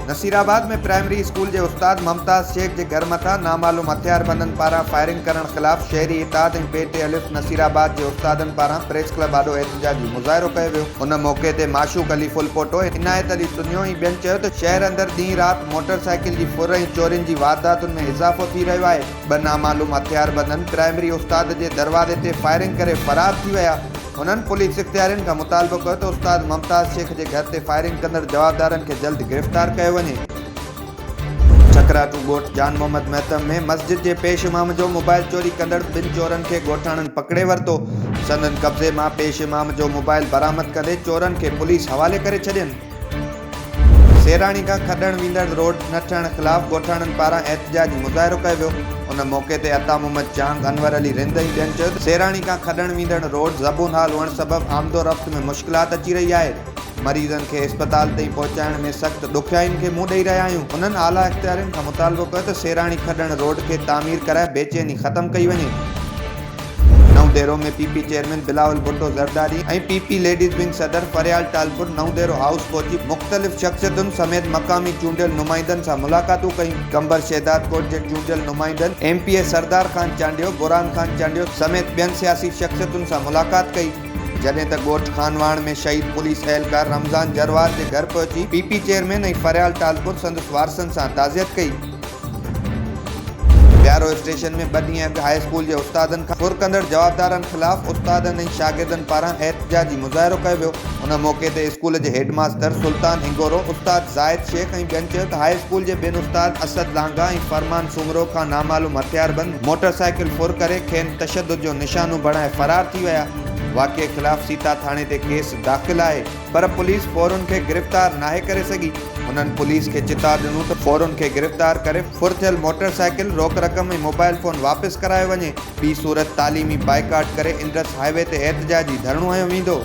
نصير آباد ۾ primary school جي استاد ممتاز شيخ جي گهر مٿان نامعلوم هٿياربندن پاران فائرنگ ڪرڻ خلاف شهري اتحاد ۽ پي ٽي الف نصير آباد جي استادن پاران پريس ڪلب آڏو احتجاجي مظاهرو ڪيو ويو. ان موقعي تي معشوق علي ڦلپوٽو، عنايت علي سنيو ۽ ٻين چيو ته شهر اندر ڏينهن رات موٽر سائيڪل جي ڦر ۽ چورين جي وارداتن ۾ اضافو ٿي رهيو آهي، ٻه نامعلوم هٿياربندن پرائمري استاد جي دروازي تي فائرنگ ڪري فرار ٿي ويا، هنن پوليس اختيارين کان مطالبو ڪيو ته استاد ممتاز شيخ جي گهر تي فائرنگ ڪندڙ جوابدارن کي جلد گرفتار ڪيو وڃي. ٺڪراٽو ڳوٺ جان محمد مهتم ۾ مسجد جي پيش امام جو موبائل چوري ڪندڙ ٻن چورن کي ڳوٺاڻن پڪڙي ورتو، سندن قبضي مان پيش امام جو موبائل برآمد ڪندي چورن کي پوليس حوالي ڪري ڇڏين. سيراڻي کان کڏڻ ويندڙ روڊ نه ٺهڻ خلاف ڳوٺاڻن پاران احتجاجي مظاهرو ڪيو ويو، ان موقعي تي عطا محمد جهانگ، انور علي رند ۽ ٻين چيو ته سيراڻي کان کڏڻ ويندڙ روڊ زبون حال هئڻ سبب آمدورفت ۾ مشڪلات اچي رهي آهي، مريضن کي اسپتال تائين پهچائڻ ۾ سخت ڏکيائين کي منهن ڏئي رهيا آهيون، انهن اعليٰ اختيارين کان مطالبو ڪيو ته سيراڻي کڏڻ روڊ کي تعمير ڪرائي بيچيني ختم ڪئي وڃي. Naudero ۾ P P chairman Bilawal Bhutto Zardari ۽ P P ladies wing صدر فريال ٽالپر نئون ديرو هائوس پهچي مختلف شخصيتن سميت مقامي چونڊيل نمائندن سان ملاقاتون ڪيون قمبر شهدادڪوٽ جي چونڊيل نمائندن M P A Sardar Khan Chandio Burhan Khan Chandio سميت ٻين سياسي شخصيتن سان ملاقات ڪئي. جڏهن ته ڳوٺ خانواهڻ ۾ شهيد پوليس اهلڪار رمضان جروار جي گهر پهچي P P chairman ۽ Faryal Talpur سندس وارثن سان تعزيت ڪئي. بيارو اسٽيشن ۾ ٻه ڏينهن اڳ هاء اسڪول جي استادن کان ڦر ڪندڙ جوابدارن خلاف استادن ۽ شاگردن پاران احتجاجي مظاهرو ڪيو ويو ان موقعي تي اسڪول جي هيڊ ماستر سلطان هنگورو، استاد زاهد شيخ ۽ ٻين چيو ته هاء اسڪول جي ٻن استاد اسد لانگاهه ۽ فرمان سومرو کان نامعلوم هٿياربند موٽر سائيڪل ڦر ڪري کين تشدد جو نشانو بڻائي فرار ٿي ويا واقعي خلاف سيتا ٿاڻي تي ڪيس داخل آهي. پر پوليس ڦورن کي گرفتار ناهي ڪري سگهي، هنن پوليس کي چتاء ڏنو ته ڦورن کي گرفتار ڪري ڦر ٿيل موٽر سائيڪل، روڪ رقم ۽ موبائيل فون واپس ڪرايو وڃي، ٻي صورت تعليمي بائيڪاٽ ڪري انڊس هاء وي تي احتجاجي ڌرڻو هنيو ويندو.